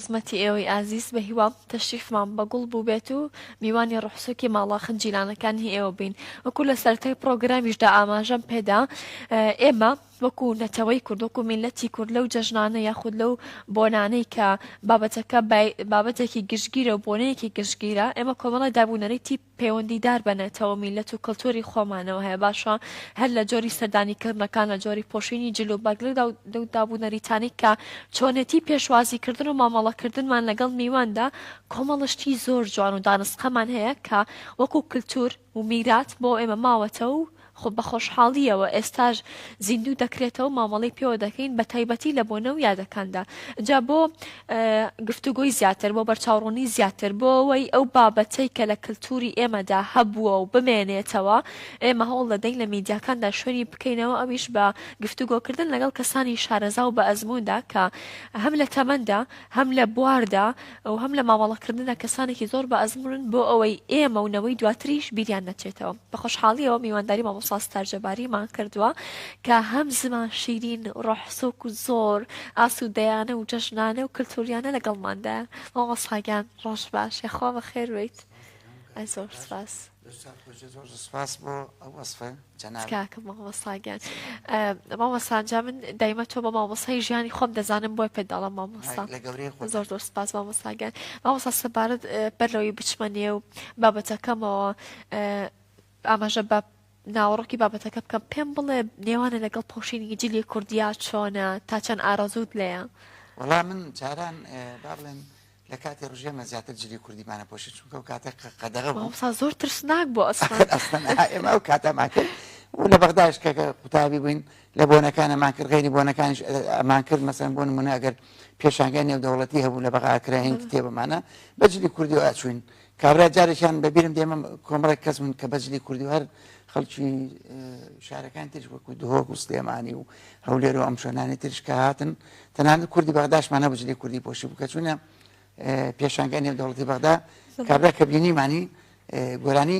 خزمەتی ئێوەی ئازیز بە هیوام تەشریفمان بە گوڵ بووبێت و میوانی ڕوحسووکی ماڵە خنجیلانەکانی ئێوە بین وەکو لە سەرەتای پڕۆگرامیشدا ئاماژەم پێدا ئێمە وەکو نەتەوەی کورد وەکو میلەتی کورد لەو جەژنانە یاخود لەو بۆنانەی کە بابەتەکە بابەتێکی گشتگیرە و بۆنەیەکی گشتگیرە ئێمە کۆمەڵە دابوونەرێتی پەیوەندیدار بە نەتەوە و میللەت و کلتوری خۆمانەوە هەیە باشە هەر لە جۆری سەردانی کردنەکان لە جۆری پۆشینی جل و بەرگ لەو دابونەریتانەی کە چۆنێتی پێشوازی کردن و مامەڵە کردنمان لەگەڵ میواندا کۆمەڵە شتی زۆر جوان و دانسقەمان هەیە کە وەکو کلتور و میرات بۆ ئێمە ماوەتەوە و خۆ بە خۆشحاڵییەوە ئێستاش زیندوو دەکرێتەوە مامەڵەی پێوە دەکەین بە تایبەتی لە بۆنە و یادەکاندا جا بۆ گفتوگۆی زیاتر بۆ بەرچاوڕوونی زیاتر بۆەوەی ئەو بابەتەی کە لە کللتوری ئێمەدا هەبووە و بمێنێتەوە ئێمە هەوڵ دەدەین لە میدیاکاندا شوێنی بکەینەوە ئەویش بە گفتوگۆکردن لەگەڵ کەسانی شارەزا و بە ئەزموندا کە هەم لە تەمەندا هەم لە بواردا و هەم لە مامەڵەکردندا کەسانێکی زۆر بە ئەزموونن بۆ ئەوەی ئێمە و نەوەی دواتریش بیریان نەچێتەوە بە خۆشحاڵیەوە میوانداری مامۆسا ستار جەباریمان کردووە کە هەم زمان شیرین ڕۆح سۆک و زۆر ئاسوودەیانە و جەژنانە و کللتوریانە لەگەڵماندا مامۆساگیان ڕۆژ باشێ خوا بە خێرویت زۆر سپاس. استاد خوجێ زۆر سپاس بۆ ئەو وەسفە جەنابکە مامۆساگیان مامۆسانجا من دایمە تۆ بە مامۆسای ژیانی خۆم دەزانم بۆی پێداڵم مامۆستا زۆر زۆر سپاس مامۆساگیان مامۆسا سەبارەت بەرەوەی بچمە نێو بابەتەکەمەوە ئاماژە بە ناوەڕۆکی بابەتەکە بکەم پێم بڵێ نێوانە لەگەڵ پۆشینی جلی کوردیا چۆنە تا چەند ئارەزوت لەیە وڵا من جاران با بڵێن لە کاتی ڕژێمە زیاتر جلی کوردیمان ئەپۆشی چونکە ئەو کاتە قە- قەدەغە بوو مامۆستا زۆر ترسناک بۆ ئەسڵان ئەخر ئەسڵەن ئا ئێمە ئەو کاتەمان کرد و لە بەغداش کە کە قوتابی بووین لە بۆنەکان ئەمان کرد غەیری بۆنەکانیش ئە- ئەمان کرد مەسەن بۆ نموونە ئەگەر پێشانگای نێودەوڵەتی هەبوو لە بەغا ئەکراین بەڵێ. کتێبەمانە بە جلی کوردیەوە ئەچووین کابرا جارێکیان بە بیرم دێ مەم کۆمەڵێک کەس بوون کە بە جلی کوردی و هەر خەڵکی ئە، شارەکانی تریش وەکوو دهۆک و سلێمانی و هەولێر و ئەم شوێنانەی تریش کە هاتن تەنانەت کوردی بەغداشمان هەبوو جلی کوردی پۆشی بوو کە چوونە پێشانگای نێودەوڵەتی بەغدا کابرا کە بینیمانی گۆرانی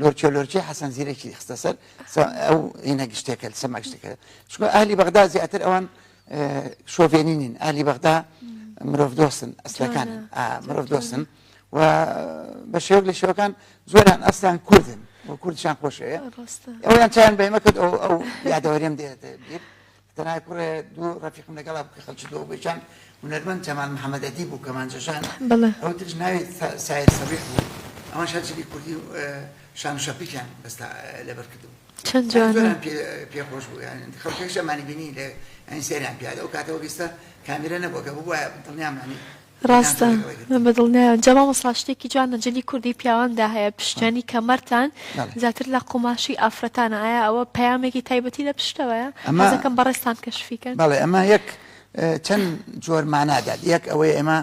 لۆرچۆ لۆرچی حەسەن زیرەکی خستە سەر ئەو هێنە گشتێکە سەما گشتەکە چکۆ ئالی بەغدا زیاتر ئەوان شۆڤێنی نین ئالی بەغدا مرۆڤ دۆستن ئەسلەکان مرۆڤ دۆستن و بە شێوک لە شێوەکان زۆران ئەسلان کوردن و کوردشان خۆشەیە ئەویان چیان بەمە کرد ئەو یادەوەریم دێت تەنها کوڕێ دوو ڕەفیقم لەگەڵا بوو کە خەڵکی دۆ بوو یەکیان هونەرمەند جەمال محەمەد ئەدیب و کەمانجە ژان ئەو تریش ناوی سایر سەبیح بوو ئەوانش هەر جلی کوردی و شان و شەپیکیان بەستا لەبەر کردبوو چەند جوانە یانی زۆران پێ پێ خۆش بوو یانی خەڵکیش ئەمانی بینی لە یانی سەیریان پیادا ئەو کاتە وەک ئیستا کامیرە نەبوو گەر ببوایە دڵنیام یانی ڕاستە من بە دڵنیام جا مامۆستا شتێکی جوانە جلی کوردی پیاواندا هەیە پشتیانی کەمەرتان زیاتر لە قوماشی ئافرەتانە ئایا ئەوە پەیامێکی تایبەتی لە پشتەوەیە ئەمەکەم بەڕێستان کەشفیکەن بەڵێ ئەمە یەک چەند جۆر مانادات یەک ئەوەی ئێمە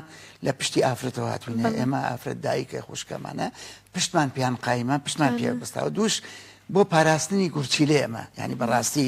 لە پشتی ئافرەتەوە هاتوونە ئێمە ئافرەت دایکە خوشکەمانە پشتمان پیان قایمە پشتمان پێ بستاوە دووش بۆ پاراستنی گورچیلێ ئەمە ینی بەڕاستی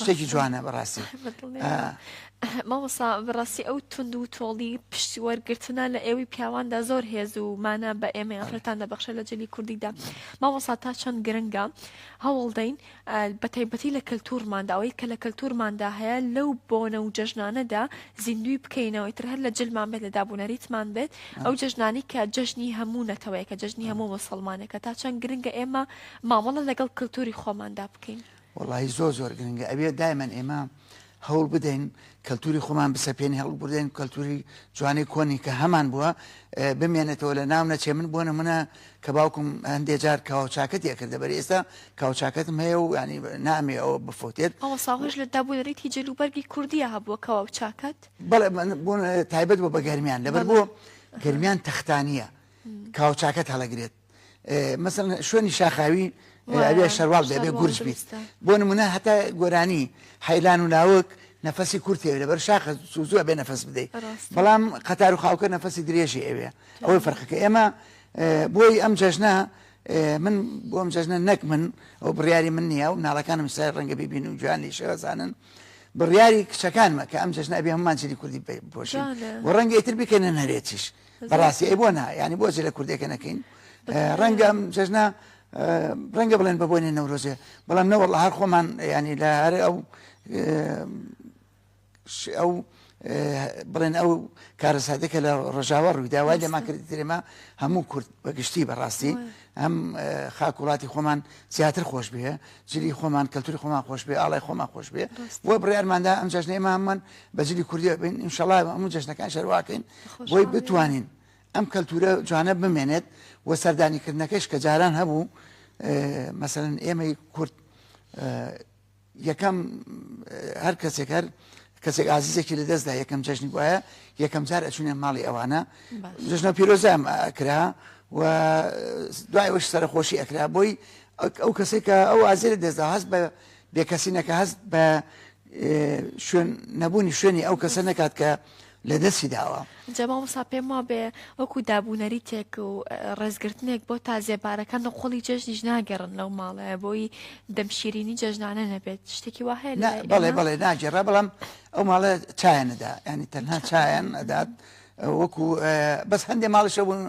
شتێکی جوانە بەڕاستی مامۆسا بەڕاستی ئەو تونند و تۆڵی پشتی وەرگرتنە لە ئێوی پیاواندا زۆر هێز و مانە بە ئێمە ئەفرەتان دەبخشە لە جلی کوردیدا مامۆسا تا چەند گرنگە هەوڵدەین بە تایبەتی لە کەلتورمانداوەی کە لە کەلتورماندا هەیە لەو بۆنە و جەژنانەدا زیندوی بکەینەوەی تر هەر لە جلمان بێت لە دابوونەریتمان بێت ئەو جەژنانی کە جەژنی هەموو نەتەوەیە کە جەژنی هەموو مسلمانەکە تا چەند گرنگە ئێمە مامەڵە لەگەڵ کەلتوری خۆماندا بکەین. وەڵاهی زۆر زۆر گرنگە ئەبێ دایمەن ئێمە هەوڵ بدەین کەلتوری خۆمان بسەپێنی هەڵ بردێن کەلتوری جوانی کۆنی کە هەمان بووە بمێنێتەوە لە ناو نەچێ من بۆ نمونە کە باوکم هەندێک جار کاوچاکەت یەکردە بەر ئێستا کاوچاکەتم هەیە و ینی نامێ ئەوە بفوتێت ئەوە ساغش لە دابوونەرێتی جلوبەرگی کوردیە هەبووە کەوا و چاکەت بەڵێ بۆ تایبەت بۆ بە گەرمیان لەبەر بۆ گەرمیان تەختانە کاوچاکەت هەڵەگرێت مەسن شوێنی شاخاوی ئەوێ شەرواڵ دەبێ گورج بیت بۆ نمونە هەتا گۆرانی حیلان و ناوک نەفەسی کورتێ لە بەر شاخە سوزوە بێ نەفەس بدەیت بەڵام قەتار و خاوکە نەفەسی درێژی ئەوێ ئەوەی فەرقەکە ئێمە بۆی ئەم جەژنە من بۆم جەژنە نەک من ئەو بڕیاری من نییە و ناڵەکانم سای ڕەنگە ببین و جوان لە شێوەزانن بڕیاری کچەکانمە کە ئەم جەژنە ئەبێ هەمانجلی کوردی پۆشی و ڕەنگە ئیتر بکەنە نەرێتیش بەڕاستی ئەی بۆ نا ینی بۆ جلە کوردێکە نەکەین ڕەنگە ئەم جەژنا ڕەنگە بڵێن بە بۆنی نەورۆزێ بەڵام نەوەڵ هەر خۆمان ینی لە هەر ئەو ئەو بڵێن ئەو کارەساتێکە لە ڕژاوە ڕوویداوای لەما کرد درێمە هەموو کورد بەگشتی بەڕاستی ئەم خاک وڵاتی خۆمان زیاتر خۆش بێ جلی خۆمان کەلتوری خۆمان خۆش بێ ئاڵای خۆمان خۆش بێ بۆ بڕارماندا ئەم جژنێمامان بە جلی کوردی بین انشاءڵ هەموو جژنەکان شەرواکەین بۆی بتوانین ئەم کەلتورە جوانە بمێنێت و سەردانیکردنەکەش کە جاران هەبوو مەسەن ئێمەی کورد یەکەم هەر کەسێک هەر کەسێک ئازیزێکی لە دەستدا یەکەم جژنی وایە یەکەم جار ئەچونێن ماڵی ئەوانە جژنە پیرۆزام کرا و دوای وەش سەرخۆشی ئەکرا بۆی ئەو کەسێکە ئەو ئازیێ دەستدا هەست بە بێکەسینەکە هەست بە شوێن نەبوونی شوێنی ئەو کەسە نەکات کە لە دەستی داوە جەماوەسا پێم وا بێ وەکو دابوونەری تێک و ڕێزگرتنێک بۆ تازێبارەکە نقۆڵی جەژنیش ناگەڕن لەو ماڵەیە بۆی دەمشیرینی جەژنانە نەبێت شتێکی واه بەڵێ بەڵێ ناگەڕە بەڵام ئەو ماڵە چایەنەدا ینی تەنها چایەن ئەدات وەکو بەس هەندێ ماڵشە بوون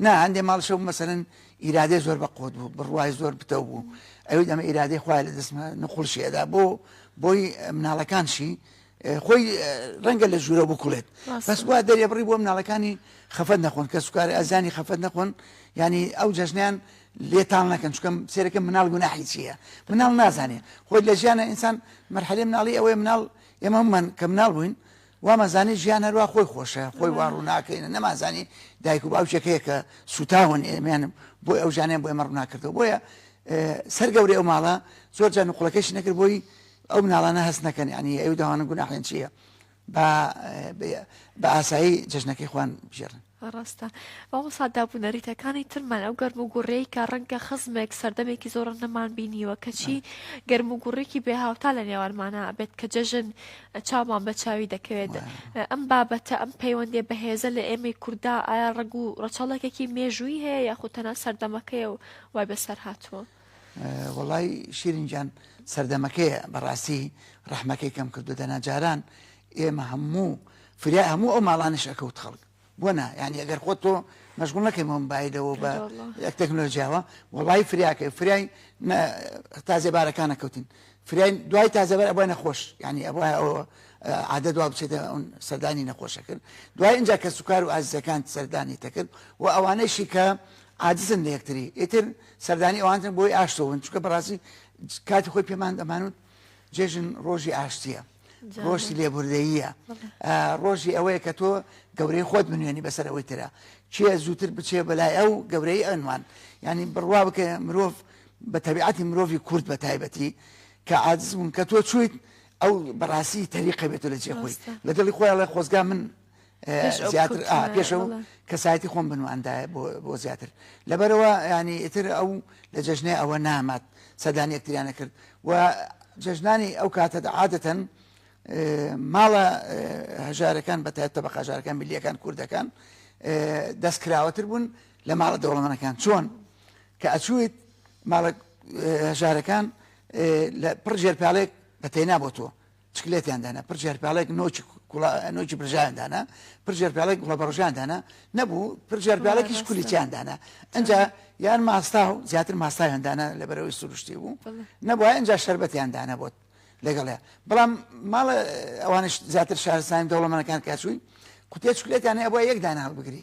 نا هەندێ ماڵشە مەسەن ئیرادەی زۆر بە قوت بوو بڕوای زۆر پتەو بوو ئەوی ئەمە ئیرادەی خخوای لە دەستمە نقلشی ئەدا بۆ بۆی مناڵەکانشی خۆی ڕەنگە لە ژوورە بکڵێت بەسوا دەرێ بڕی بۆ مناڵەکانی خەفەت نەخۆن کە سوکارە ئەزانی خەفەت نەخۆن ینی ئەو جەژنیان لێتان نەکەن چکەم سێرەکە مناڵ گوناحی چییە مناڵ نازانێ خۆی لە ژیانە ئینسان مەرحەلێ مناڵی ئەوەی مناڵ ئێمە من کە مناڵ بووین وامانزانی ژیان هەروا خۆی خۆشە خۆی وا ڕووناکەینە نەمانزانی دایک و باوکێک هەیە کە سوتاون ئێمەیان بۆی ئەو ژانیان بۆ ئێمە ڕووناکردەوە بۆیە سەر گەورەی ئەو ماڵە زۆر جان و قوڵەکەش نەکرد بۆی ئەو مناڵانە هەست نەکەن ینی ئەو داوانە گوناحێن چییە بە ئاسایی جژنەکەی خوان بژێرن ڕاستە بەڵام ساددا بوو نەریتەکانی ترمان ئەو گەرم و گوڕەی کە ڕەنگە خزمێک سەردەمێکی زۆر نەمان بینیوە کەچی گەرم و گوڕێکی بێ هاوتا لە نێوانمانە بێت کە جەژن چاومان بە چاوی دەکەوێت ئەم بابەتە ئەم پەیوەندێ بەهێزە لە ئێمەی کووردا ئایا ڕەگ و ڕەچەڵەکێکی مێژووی هەیە یاخود تەنە سەردەمەکەی و وای بەسەر هاتووە وەڵای شیرین گیان سەردەمەکەیە بەڕاستی ڕەحمەکەی کەم کردو دەنا جاران ئێمە هەموو فریا هەموو ئەو ماڵانش ئەکەوت خەڵک بۆ نا یعنی ئەگەر خۆ تۆ مەشغول نەکەی مۆمبایلەوە بە یەک تەکنۆلژیاوە وڵی فریاکەی فریای تازێبارەکانە کەوتین فریای دوای تازەبەر ئەبای نەخۆش ینی ئەبە ئەوە عادە دوا بچێتە ئەون سەردانی نەخۆشەکرد دوای اینجا کە سوکار و ئازیزەکان سەردانی تەکرد و ئەوانەشی کە عاجزن لە یەکتری ئیتر سەردانی ئەوانتن بۆی ئاشتەوە بن چونکە بەڕاستی کاتی خۆی پێمان دەمانوت جێژن ڕۆژی ئاشتیە ڕۆژی لێبوردەییە ڕۆژی ئەوەیە کە تۆ گەورەی خۆت بنوێنی بەسەر ئەوەی ترە چێ زووتر بچێ بەلای ئەو گەورەی ئەنوان ینی بڕوا بکە مرۆڤ بە تەبیعەتی مرۆڤی کورد بە تایبەتی کە عادزبوون کە تۆ چیت ئەو بەڕاستی تەریقە بێتە لە جێخۆی لە دڵی خۆیان لە خۆزگا من زیاتر پێشەوە کەسایەتی خۆم بنواندایە بۆ زیاتر لەبەرەوە ینی ئیتر ئەو لە جەژنێ ئەوە نامات سەدان یەکتریانە کرد و جەژنانی ئەو کاتە عادەتەن ماڵە هەژارەکان بە تایبتە بە قاژارەکان ملیەکان کوردەکان دەستکراوەتر بوون لە ماڵە دەوڵەمەنەکان چۆن کە ئەچویت ماڵە هەژارەکان لە پڕ ژێرپالێک بە تێنا بۆ تۆ چکلێتیان دانا، پڕ جێرپێڵێک نۆچ کوڵە، نۆچی برژایان دانا، پڕ جێرپێڵێک گوڵە بەڕژان دانا، نەبوو، پڕ جێرپێڵێکیش کولیچیان دانا. ئەنجا یان ماستا و زیاتر ماستاویان دانا لەبەرەوەی سروشتی بوو، نەبوو ئەنجا شەربەتیان دانا بۆت. لەگەڵێ بەڵام ماڵە ئەوانش زیاتر شارستانی دەوڵەمەنەکان کاچووی قوتێ چکلێتیان هەیە ئەبووە یەک دانە هەڵبگری،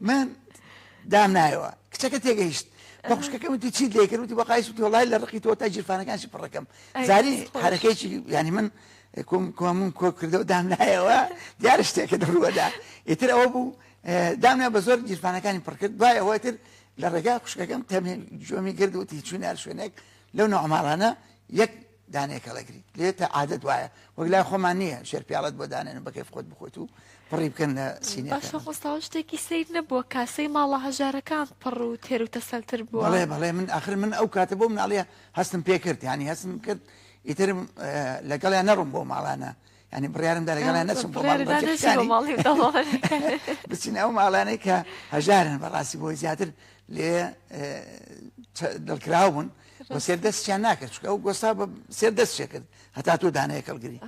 من دام نایەوە کچەکە تێگەیشت بە خوشکەکەم وتی چیت لێ کردوتی بە قایس وتی وڵای لە ڕقی تۆ تا جیرفانەکانشی پڕەکەم زاری حرەکەیکی ینی من کۆمون کۆ کردەوە دام نایەوە دیار شتێکە دەڕوەدا ئیتر ئەوە بوو دامنا بە زۆر جیرفانەکانی پڕکرد دوای ئەوە تر لە ڕێگا خوشکەکەم تەمێ جۆمی کرد وتی چوینار شوێنێک لەو نەعماڵانە یەک دانەیەک هەڵەگریت لێ تا عادەت وایە وەک لای خۆمان نییە شێر پیاڵەت بۆ دانێن و بەکەیف خۆت بخۆت و پڕی بکەن لە سینە باشە خۆستاوە شتێکی سیر نەبووە کاسەی ماڵە هەژارەکان پڕ و تێر و تەسەلتر بووە بەڵێ بەڵێ من ئاخر من ئەو کاتە بۆ مناڵیە هەستم پێکرد ینی هەستم کرد ئیترم لەگەڵیان نەڕوم بۆ ماڵانە یانی بڕیارم دا لەگەڵیان نەچم بۆ ماڵی بەرپرسەکانی بچین ئەو ماڵانەی کە هەژارن بەڕاستی بۆی زیاتر لێ دڵکراو بوون بۆ سێر دەستیان ناکرد چکە ئەو گۆستا بە سێر دەست شێ کرد هەتا تۆ دانەیە کەڵگری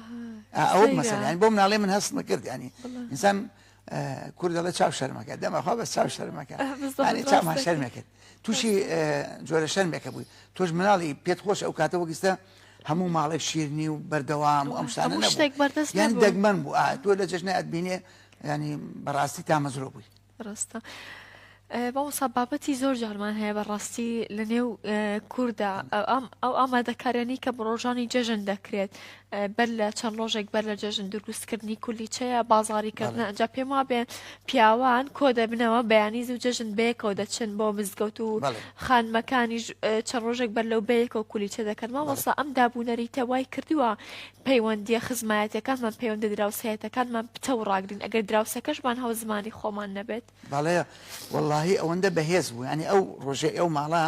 ئەو مەسەیان بۆ مناڵێ من هەست نەکرد ینی ئینسان کورد دەڵێ چاو شەرمەکە دەمەخوا بە چاو شەرمەکە چامان شەرمەکرد تووشی جۆرە شەرمێکە بووی تۆش مناڵی پێت خۆش ئەو کاتە وەگیستە هەموو ماڵێک شیرنی و بەردەوام و ئەم شتانە هەموو شتێک بەردەست یان نەبوو. دەگمەن بوو ئا تۆ لە جەژنە ئەتبینێ ینی بەڕاستی تامەزرۆ بووی ڕاستە ئە، مامۆستا بابەتی زۆر جارمان هەیە بەڕاستی لە نێو ئە، کووردا ئە، ئەم ئەو ئامادەکاریانی کە ڕۆژانی جەژن دەکرێت ئە، بەر لە چەند ڕۆژێک بەر لە جەژن دروستکردنی کولیچەیە بازاری کردنە بەڵێ. ئەجا پێم وابێ پیاوان کۆ دەبنەوە بەیانی زوو جەژن بەیەکەوە دەچن بۆ مزگەوت و بەڵێ. خانمەکانیش چەند ڕۆژێک بەر لەو بەیەکەوە کولیچە دەکەن، مامۆستا ئەم داب و نەریتە وای کردووە پەیوەندییە خزمایەتییەکانمان، پەیوەندییە دراوسێیەتەکانمان پتەو و ڕاگرین، ئەگەر دراوسێکەشمان هاوزمانی خۆمان نەبێت. بەڵێ وەڵڵاهی ئەوەندە بەهێز بوو، یانی ئەو ڕۆژەی ئەو ماڵە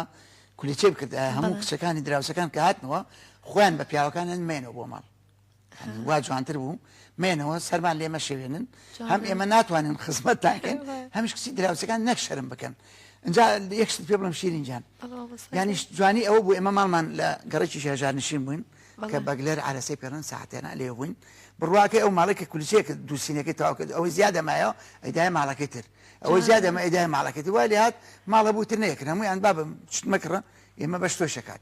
کولیچەی بکردایە، هەموو کچەکانی دراوسێکان کە هاتنەوە خۆیان بە پیاوەکانیان مەیەنەوە بۆ ماڵ. وا جوانتر بوو مێنەوە سەرمان لێ مەشێوێنن هەم ئێمە ناتوانن خزمەت تاکەن هەمیش کچی دراوسەکان نەک شەرم بکەن اینجا یەکشت پێ بڵم شیرین جان یانیش جوانی ئەو بوو ئێمە ماڵمان لە گەڕێکی شێژار نشین بووین کە بەگلەر عرەسی پێڕن ساعتێنە لێ بووین بڕواکەی ئەو ماڵێکە کولچێکە دووسینەکەی تاواکرد ئەوەی زیادە مایەوە ئەدای ماڵەکەی تر ئەوەی زیادە مە ئەدای ماڵەکەی وای لات ماڵە بووتر نەیەکرد هەموویان بابم شتمەکڕە ئێمە بەش تۆشەکات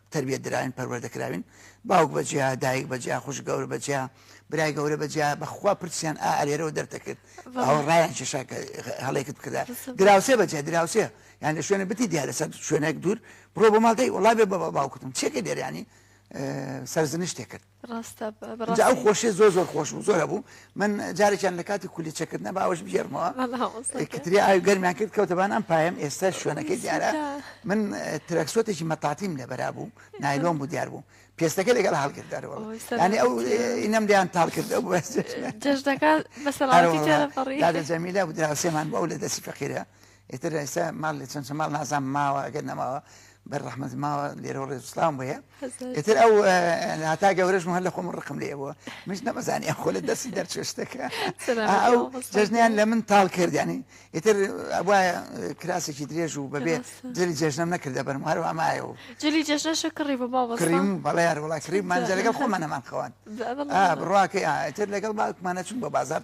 تەربیەت دراوین پەروەردە کراوین باوک بە جیا دایک بە جیا خوش گەور بە جیا برای گەورە بە جیا بەخوا پرسیان ئا ئەرێرەوە دەرتەکرد ئەو ڕایان کێشا کە هەڵێکت بکردا دراوسێ بە جیا دراوسێ یان لە شوێنە بتی دیا لەسەر شوێنێک دوور بڕۆ بۆ ماڵدەی وڵا بێ بە باوکتم چێکە دێریانی سەرزنشتێ کرد ڕاستە جا ئەو خۆشێ زۆر زۆر خۆش بوو زۆرە بوو من جارێکیان لە کاتی کولی چەکردنە باوەش بژێرمەوە کتری ئاوی گەرمیان کرد کەوتەبان ئەم پایم ئێستا شوێنەکەی دیارە من ترەکسۆتێکی مەتاتیم لەبەرا بوو نایلۆم بوو دیار بوو پێستەکە لەگەڵ هەڵگر دەرەوە ینی ئەو ئینەم دیان تاڵ کردە بوو جەژدەکە بەسەڵ جەمیلا بوو دراوسێمان بۆ ئەو لە دەستی فەقیرە ئیتر ئێستا ماڵ لێ چەند چەند ماڵ نازام ماوە ئەگەر نەماوە بەر ڕەحمەت ماوە لێرە ڕێز و سڵام بۆیە هەزار ئیتر ئەو اه، هاتا گەورەش هەر لە خۆم ڕقم لێ بووە منش نەمەزانی ئەم خۆ لە دەستی دەرچێ شتەکە سەلامەت ئەو بۆ مامۆستا جەژنیان گیان. لە من تاڵ کرد ینی ئیتر وایە کراسێکی درێژ و بەبێ ڕاستە. جلی جێژنم نەکردە بەرم هەر ئەمایە و جلی جەژنەشە کڕی بە مامۆستا کڕیم و بەڵێ یار وڵا کڕیم مانجە لەگەڵ خۆمانەمان خەوان بەمەڵا. ئا بڕواکەی ئا ئیتر لەگەڵ باوکمانە چووین بۆ بازاڕ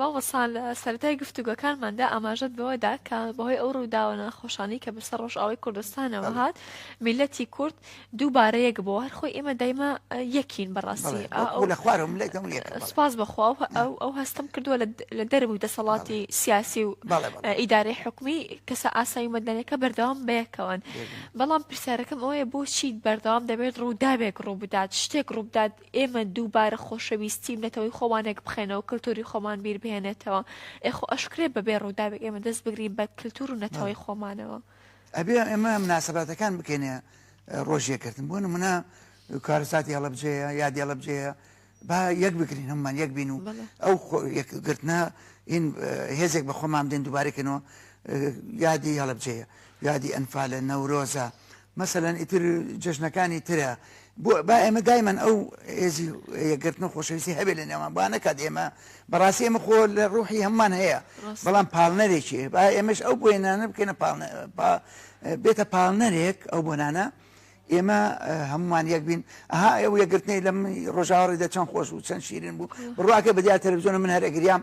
مامۆسان لە سەرای گفتوگەکانماندا ئاماژەت بەوەدا کە بەهۆی ئەو ڕووداوە ناخۆشانی کە بەسەر ڕۆژئاوی کوردستانەوە هات میلەتی کورد دووبارە یەک بۆ هەر خۆی ئێمە دایمە یەکین بەڕاستی لە خوارم لە سپاس بەخوا ئەو ئەو هەستم کردووە لە دەرب و دەسەڵاتی سیاسی و ئیدارەی حکومی کەسە ئاسایی مەدەنەکە بەردەوام بەیەکەوەن بەڵام پرسیارەکەم ئەوەیە بۆچی بەردەوام دەبێت ڕووداوێک ڕوو بدات شتێک ڕوو بدات ئێمە دووبارە خۆشەویستی و نەتەوەی خۆمانێک بخەینەوە کلتوری خۆمان بیر بهێنێتەوە ئێ خۆ ئەشکرێ بەبێ ڕووداوێک ئێمە دەست بگرین بە کلتور و نەتەوەی خۆمانەوە. ئەبێ ئێمە مناسەباتەکان بکەینە ڕۆژ یەکگرتن بۆ نمونە کارەساتی هەڵەبجەیە یادی هەڵەبجەیە با یەک بگرین هەمومان یەک بین و بەڵێ ئەو خۆ- یەکگرتنە هین هێزێک بە خۆمان بدەین دووبارەکەینەوە یادی هەڵەبجەیە یادی ئەنفالە نەورۆزە مەسەلەن ئیتر جەژنەکانی ترە بۆ با ئێمە دایمەن ئەو هێزی یەکگرتن و خۆشەویستی هەبێ لە نێوان با نەکات ئێمە بەڕاستی ئێمە خۆ لە ڕوحی هەممان هەیە ڕاست بەڵام پاڵنەرێکی با ئێمەش ئەو بۆێنانە بکەینە پاڵنە با بێتە پاڵنەرێک ئەو بۆنانە ئێمە هەمومان یەک بین ئەها ئەو یەکگرتنەی لەم ڕۆژاوەڕی دە چەند خۆش بوو چەند شیرین بوو بڕواکە بەدیار تەلەڤزیۆنە من هەرەگریام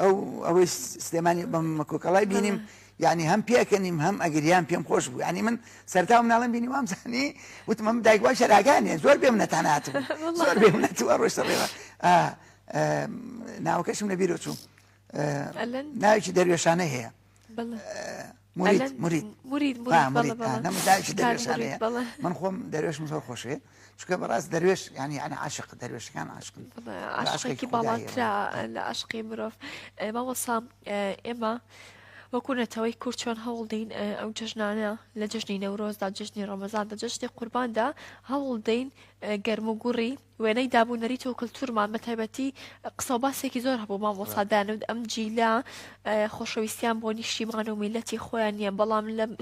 ئەو ئەوەی سلێمانی بەم مەکۆکەڵای بینیم یعنی هەم پێکەنیم هەم ئەگریان پێم خۆش بوو ینی من سەرتا مناڵم بینی وام زانی وتمم دایگووا شەراگانێ زۆر بێم نەتانات زۆر بێم نەتوە ڕۆشتە ڕێوە ناوەکەشم لەبیرۆ چوو ناوێکی دەروێشانە هەیە من خۆم دەروێشم زۆر خۆشێ چکە بەڕاست دەروێش ینی ئەە عاشق دەروێشەکان عاشقن عاشقێکی باڵاترا لە عشقی مرۆڤ مامەسا ئێمە وەکوونەتەوەی کورد چۆن هەوڵدەین ئەو جژنانە لە جژنی نەورۆزدا جژنی ڕەمەزان دە جژنی قورباندا هەوڵدەین گەرم و گوڕی وێنەی داب و نەریت و کلتورمان بە تایبەتی قسە و باسێکی زۆر هەبوو مامۆسا دانود ئەم جیلە خۆشەویستیان بۆ نیشتیمان و میلەتی خۆیان نییە بەڵام لەم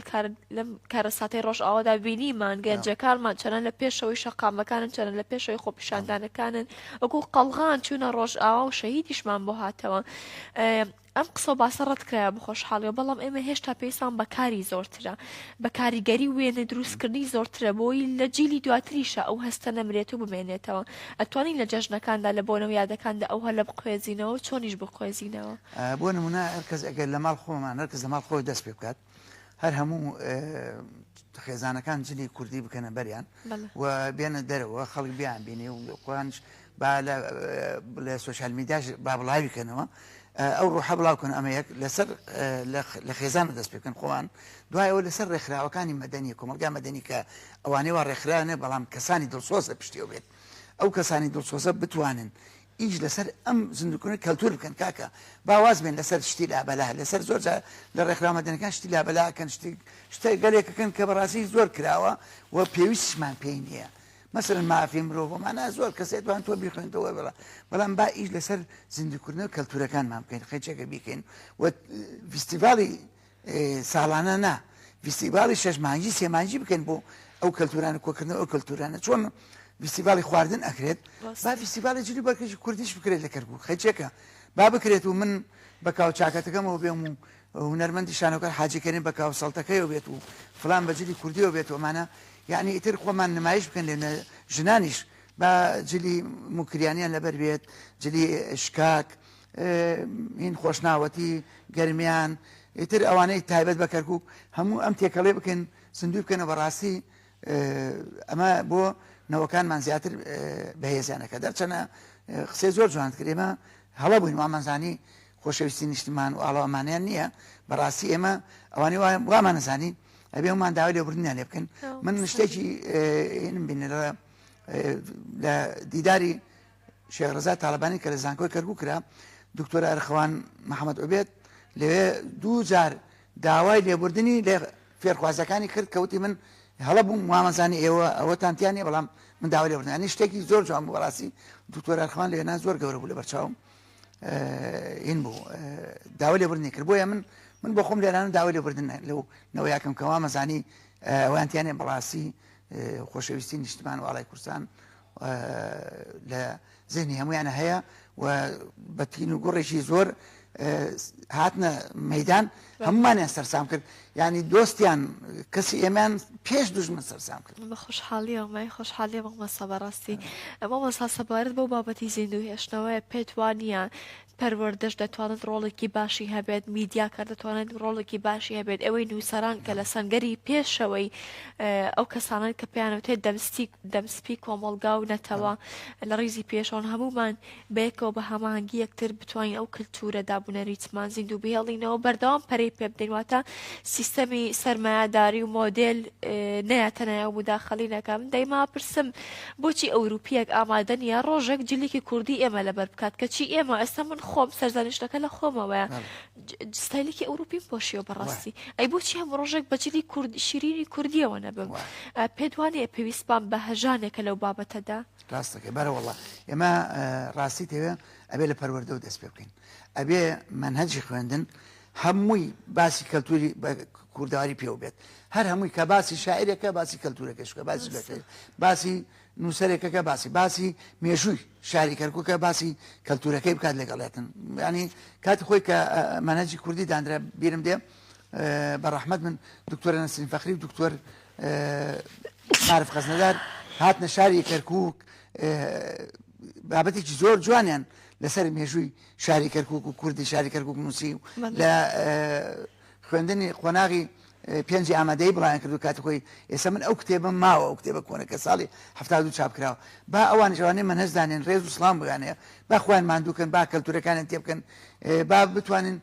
لەم کارەساتی ڕۆژ ئاوادا بینیمان گەنجەکانمان چەنە لە پێشەوەی شەقامەکانن چەنە لە پێشەوەی خۆپیشاندانەکانن وەکو قەڵغان چوونە ڕۆژ ئاوا و شەهیدیشمان بۆ هاتەوە ئەم قسە و باسە ڕەتکرایەوە بە خۆشحاڵیەوە، بەڵام ئێمە هێشتا پێویستمان بە کاری زۆرترە، بە کاریگەری و وێنە دروستکردنی زۆرترە بۆی لە جیلی دواتریشا ئەو هەستە نەمرێت و بمێنێتەوە. ئەتوانین لە جەژنەکاندا، لە بۆنە و یادەکاندا ئەو هەلە بقوێزینەوە و چۆنیش بقوێزینەوە؟ بۆ نموونە هەرکەس ئەگەر لە ماڵ خۆمان، هەرکەس لە ماڵ خۆی دەست پێ بکات، هەر هەموو خێزانەکان جلی کوردی بکەنە بەریان و بێنە دەرەوە خەڵک بیان بینێ و قۆیانش با لە سوۆشال میداش با بڵاویکەنەوە ئەو ڕۆحە بڵاوکەن ئەمە یەک لەسەر لە خێزان دەست پێکەن خۆوان دوایەوە لەسەر ڕێکخراوەکانی مەدەنی کۆمەلگا مەدەنی کە ئەوانەی وا ڕێکخراێ بەڵام کەسانی دڵسۆزە پشتیەوە بێت ئەو کەسانی دڵسۆزە بتوانن ئیش لەسەر ئەم زیندوکردنەوەی کەلتور بکەن کاکە با واز بێن لەسەر شتی لابەلا لەسەر زۆر جار لە ڕێکخراوە مەدەنەکان شتی لابەلا ئەکەن شتی شتە گەلێک ئەکەن کە بەڕاستی زۆر کراوە و پێویستیشمان پێی نییە مەسەلەن مافی مرۆڤ و مانا زۆر کەس دەتوان تۆ بیخوێنتەوە بڵا بەڵام با ئیش لەسەر زیندوکردنەوە کەلتورەکانمان بکەین خەچەکە بیکەین و فیستیڤاڵی ساڵانە نا ڤیستیڤاڵی شەش مانگی سێ مانگی بکەن بۆ ئەو کەلتورانە کۆکردنەوە ئەو کەلتورانە چۆن ڤیستیڤاڵی خواردن ئەکرێت با ڤیستیڤاڵی جلی بەکەشی کوردیش بکرێت لە کەرکوو خەچێکە با بکرێت و من بە کاوچاکەتەکەمەوە بێم و هونەرمەندی شانۆکە حاجیکەێن بە کاو سەڵتەکەیەوە بێت و فلان بەجلی کوردیەوە بێت ومانە یعنی ئیتر خۆمان نمایش بکەن لێ ژنانیش بە جلی مکریانیان لەبەر بێت جلی شکاک هین خۆشناوەتی گەرمیان ئیتر ئەوانەی تایبەت بە کەرکک هەموو ئەم تێکەڵێ بکەن سندوی بکەنە بەڕاستی ئەمە بۆ نەوەکانمان زیاتر بەهێزیانەکە دەرچەنە قسەی زۆر جوان کرێمە هەڵە بووین وامانزانی خۆشەویستی نیشتمان و ئاڵاوامانیان نییە بەڕاستی ئێمە ئەوانی وامان نزانی ئەبێ ومان داوای لێبردنیان لێ بکەن من شتێکی بینەرە لە دیداری شێخ رزا تاڵەبانی کە لە زانکۆی کەرکوک کرا دکتۆر ئەرخوان محەممەد عوبێت لەوێ دوو جار داوای لێبوردنی لە فێرخوازەکانی کرد کەوتی من هەڵە بووم وامەزانی ئێوە ئەوەتانتیان نیە بەڵام من داوا لێبوردنانی شتێکی زۆر جوان بوو بەڕاستی دکتۆر ئەرخوان لێنا زۆر گەورە بوو لە بەرچاوم این بوو داوا لێبوردنی کرد بۆیە من من بۆ خۆم لێرانە داوا لێبوردن لەو نەوە یاکەم کەوا مەزانی ئەوانتیانێ بەڕاستی خۆشەویستی نیشتمان واڵای کوردستان لە زێنی هەمویانە هەیە و بە تین و گوڕێکی زۆر هاتنە مەدان هەمومانیان سەرسام کرد ینی دۆستیان کەسی ئێمان پێش دژمن سەرسام کرد بە خۆشحاڵی ئەومای خۆشحاڵی مەمەسا بەڕاستی ئەمە مەسا سەبارەت بۆ بابەتی زیندوو هێشتنەوەی پێت وانە پەروەردەش دەتوانێت ڕۆڵێکی باشی هەبێت، میدیاکە دەتوانێت ڕۆڵێکی باشی هەبێت، ئێوەی نووسەران کە لە سەنگەری پێشەوەی ئەو کەسانن کە پێیان وتێت دەمستی دەمسپی کۆمەڵگا و نەتەوە لە ڕیزی پێشەوەن هەموومان بەیەکەوە بە هەماهەنگی یەکتر بتوانین ئەو کلتورە دابونەریتمان زیندوو بهێڵینەوە بەردەوام پەرەی پێ بدەین واتە سیستەمی سەرمایەداری و مۆدێل نەیاتەنایە و مداخلی نەکەم دەیما پرسم بۆچی ئەوروپیەک ئامادە نیە ڕۆژێک جلیکی کوردی ئێمە لەبەر بکات کەچی ئێمە ئێستا من خۆم سەرزانیشتەکە لە خۆمەوەیە ستایلێکی ئەوروپیم پۆشیەوە بەڕاستی ئەی بۆچی هەم ڕۆژێک بەجلی کورد شیرینی کوردیەوە نەبم پێدوانێ پێویستمان بە هەژانێکە لەو بابەتەدا ڕاستەکە بەرەوەڵە ئێمە ڕاستی تەوێ ئەبێ لە پەروەردە و دەست پێ بکەین ئەبێ منهجی خوێندن هەمووی باسی کەلتوری کوردەواری پێوە بێت هەر هەمووی کە باسی شاعرێکە باسی کەلتورەکەشکە باسی بەکە باسی نووسەرێکەکە باسی باسی مێژووی شاری کەرککە باسی کەلتورەکەی بکات لەگەڵێتن ینی کاتی خۆی کە مەنەجی کوردی دانرا بیرم دێ بە ڕەحمد من دکتۆرە نسین فەخری و دکتۆر عارف خەزنەدار هاتنە شاری کەرکک بابەتێکی زۆر جوانیان لەسەر مێژووی شاری کەرکوک و کوردی شاری کەرکوک نووسی و لە خوێندنی قۆناغی پێنجی ئامادەی بڵیان کردو کاتی خۆی ئێستا من ئەو کتێبم ماوە ئەو کتێبە کۆنە کە ساڵی هەفتا دوو چاپ کراوە با ئەوان جوانێ من هەز دانێن ڕێز و سلام بگانەیە با خوان مادووکەن با کەلتورەکانیان تێ بکەن با بتوانین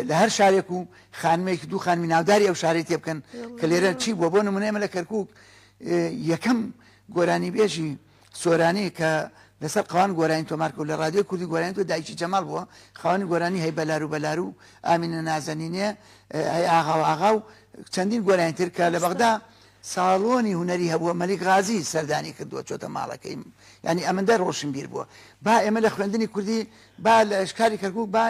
لە هەر شارێک و خانمێکی دوو خانمی ناوداری ئەو شارەی تێ بکەن کە لێرە چی بووە بۆ نمونێمە لە کەرکک یەکەم گۆرانی بێژی سۆرانی کە لەسەر قەوان گۆرانی تۆمار کرد لە رادیۆی کوردی گۆرانی تۆ دایکی جەماڵ بووە خاوەنی گۆرانی هەی بەلارو بەلارو ئامینە نازەنینێ هەی ئاغا و ئاغا و چەندین گۆرانی تر کە لە بەغدا ساڵۆنی هونەری هەبووە مەلیک غازی سەردانی کردووە چۆتە ماڵەکەی ینی ئەمەندە ڕۆشنبیر بووە با ئێمە لە خوێندنی کوردی با لە شکاری کەرکک با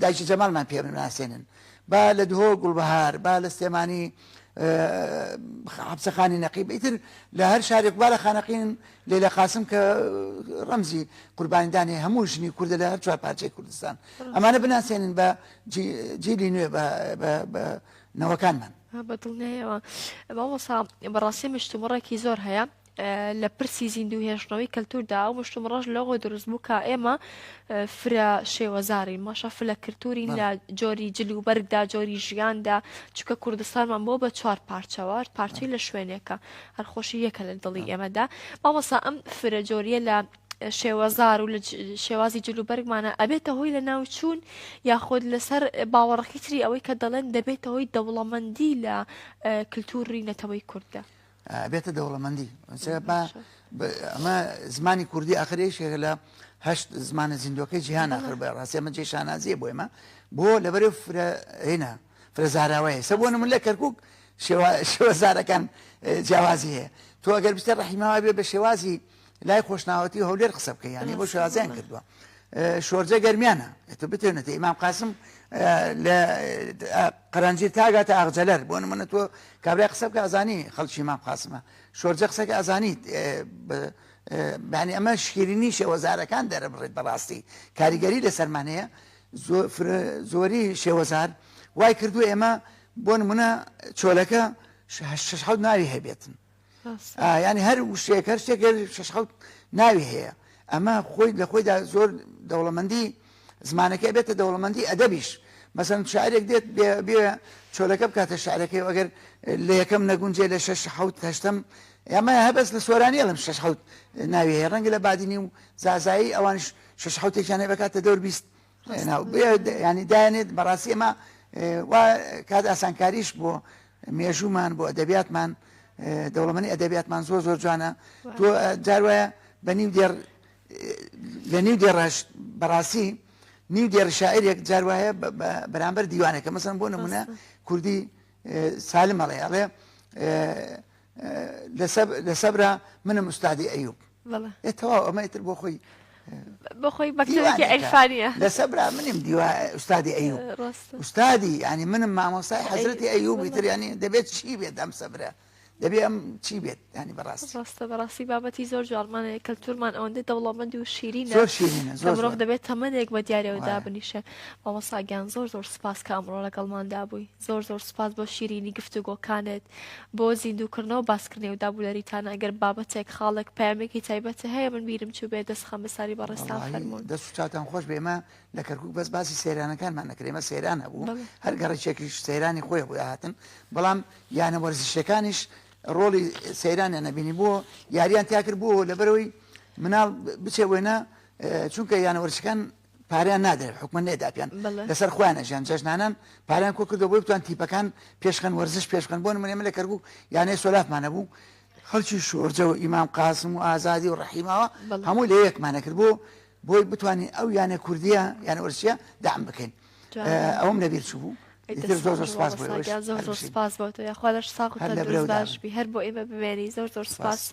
دایکی جەمالمان پێ بناسێنن با لە دهۆ گوڵبهار با لە سلێمانی حەبسەخانی نەقیب ئیتر لە هەر شارێک با لە خانەقین لێ لە قاسم کە ڕەمزی قوربانیدانی هەموو ژنی کوردە لە هەر چوار پارچەی کوردستان ئەمانە بناسێنن بە جیلی نوێ بە نەوەکانمان بە دڵنیایەوە بەڵسا بەڕاستی مشتومڕێکی زۆر هەیە لە پرسی زیندوو هێشتنەوەی کەلتوردا ئەو مشتومڕەش لەوە دروست بوو کە ئێمە فرە شێوەزارین ماشە فلە کلتورین لە جۆری جل و بەرگدا جۆری ژیاندا چکە کوردستانمان بۆ بە چوار پارچەوە پارچەی لە شوێنێکە هەرخۆشی یەکە لە دڵی ئێمەدا مامەسا ئەم فرە جۆریە لە شێوەزار و لە شێوازی جلوبەرگمانە ئەبێتە هۆی لە ناوچوون یاخود لەسەر باوەڕەکەی تری ئەوەی کە دەڵێن دەبێتە هۆی دەوڵەمەندی لە کللتوری نەتەوەی کوردە. ئەبێتە دەوڵەمەندی با ئەمە زمانی کوردی ئاخرێشێک لە هەشت زمانە زیندوەکەی جیهان ئاخر بە ڕاستێمە جێ شانازیە بۆ ئێمە بۆ لەبەرێ فرە هێنا فرە زاراوەیە سە بۆ نمون لە کەرکک شێوە زارەکان جیاوازی هەیە تۆ ئەگەر بستە ڕحیماوە بێ بە شێوازی لای خۆشناوەتی و هەولێر قسە بکە یانی بۆ شازیان کردووە شۆرجە گەرمیانە ئەتە بتێنێتە ئیمام قاسم لە قەرەنجی تاگاتە ئاغجەلەر بۆ نمونە تۆ کابرای قسە بکە ئەزانی خەڵکی مام قاسمە شۆرجە قسەکە ئەزانیت بەانی ئەمە شیرینی شێوەزارەکان دەرەبڕێت بەڕاستی کاریگەری لە سەرمانەیە زۆری شێوەزار وای کردو ئێمە بۆ نمونە چۆلەکە شش حەوت ناوی هەبێتن یانی هەر وشەیەک هەر شتێک شش حوت ناوی هەیە ئەمە خۆی لە خۆیدا زۆر دەوڵەمەندی زمانەکە بێتە دەوڵەمەندی ئەدەبیش مەسەن شارێک دێت بێ چۆلەکە بکاتە شارەکەی ئەگەر لە یەکەم نەگونجێ لە شش حوت هەشتم ئەمە هەبەس لە سۆرانی ئەڵم شش حوت ناوی هەیە ڕەنگە لە بادینی و زازایی ئەوانش شش حوتێکیانێ بکاتە دەور بیست ینی دایێنێت بەڕاستی ئەمە وا کات ئاسانکاریش بۆ مێژوومان بۆ ئەدەبیاتمان دەوڵەمەنی ئەدەبیاتمان زۆر زۆر جوانە تۆ جار وایە بە نیو دێر لە نیو دێڕش بەڕاستی نیو دێر شاعرێک جار وایە بەرامبەر دیوانەکە مەسم بۆ نمونە کوردی سالمەڵێ ئەڵێ لە سەبرا منە مستادی ئەیوب ئێ تەواو ئەمە ئیتر بۆ خۆی بەخۆی بەکتێکی ئەیفانە لەسە برا منیم دیوە ئوستادی ئەیوب ئوستادی ینی منم مامۆستای حەزرەتی ئەیوبی تر ینی دەبێت چی بێت ئەم سەبرە دەبێ ئەم چی بێت ینی بەڕاست ڕاستە بەڕاستی بابەتی زۆر جوانمانە کەلتورمان ئەوەندە دەوڵەمەند و شیرین زۆر شیرینە زۆر مرۆڤ دەبێت تەمەێک بە دیارەوە دابنیشە مامۆساگیان زۆر زۆر سپاس کە ئەمڕۆ لەگەڵماندا بووی زۆر زۆر سوپاس بۆ شیرینی گفتوگۆکانت بۆ زیندووکردنەوە باسکردنەوە و دابولەریتان ئەگەر بابەتێک خاڵێک پامێکی تایبەتە هەیە من بیرم چوو بێ دەستخەم بە ساری بەڕێستان فەرمون دەست و چاتان خۆش بێمە لە کەرکک بەس باسی سەیرانەکانمان نەکرێمە سەیران هەبوو هەر گەڕێکێکیش سەیرانی خۆی بۆ هاتن بەڵام یانە وەرزشەکانیش ڕۆڵی سەیرانیان نەبینی بۆ یاریان تیاکرد بۆ لەبەرەوەی مناڵ بچێ وێنە چونکە یانە وەرزشەکان پاریان نادرێت حکومە نێداپیان لەسەر خۆیان ئەژیان جەژنانان پاریان کۆ کردو بۆی بتوان تیپەکان پێشخەن وەرزش پێشخەن بۆن منێمە لە کەربوو یانەی سۆلافمانە بوو خەڵکی شۆرجە و ئیمام قاسم و ئازادی و ڕحیماوە هەموو لە یەکمانە کرد بۆ بۆی بتوانین ئەو یانە کوردیە یان وەرسیە دام بکەین ئەوم نەبیر چوو بوو زۆر سپاس بۆ تۆ یاخوا لەش ساق باش بی هەر بۆ ئێمە بمێنی زۆر زۆر سپاس.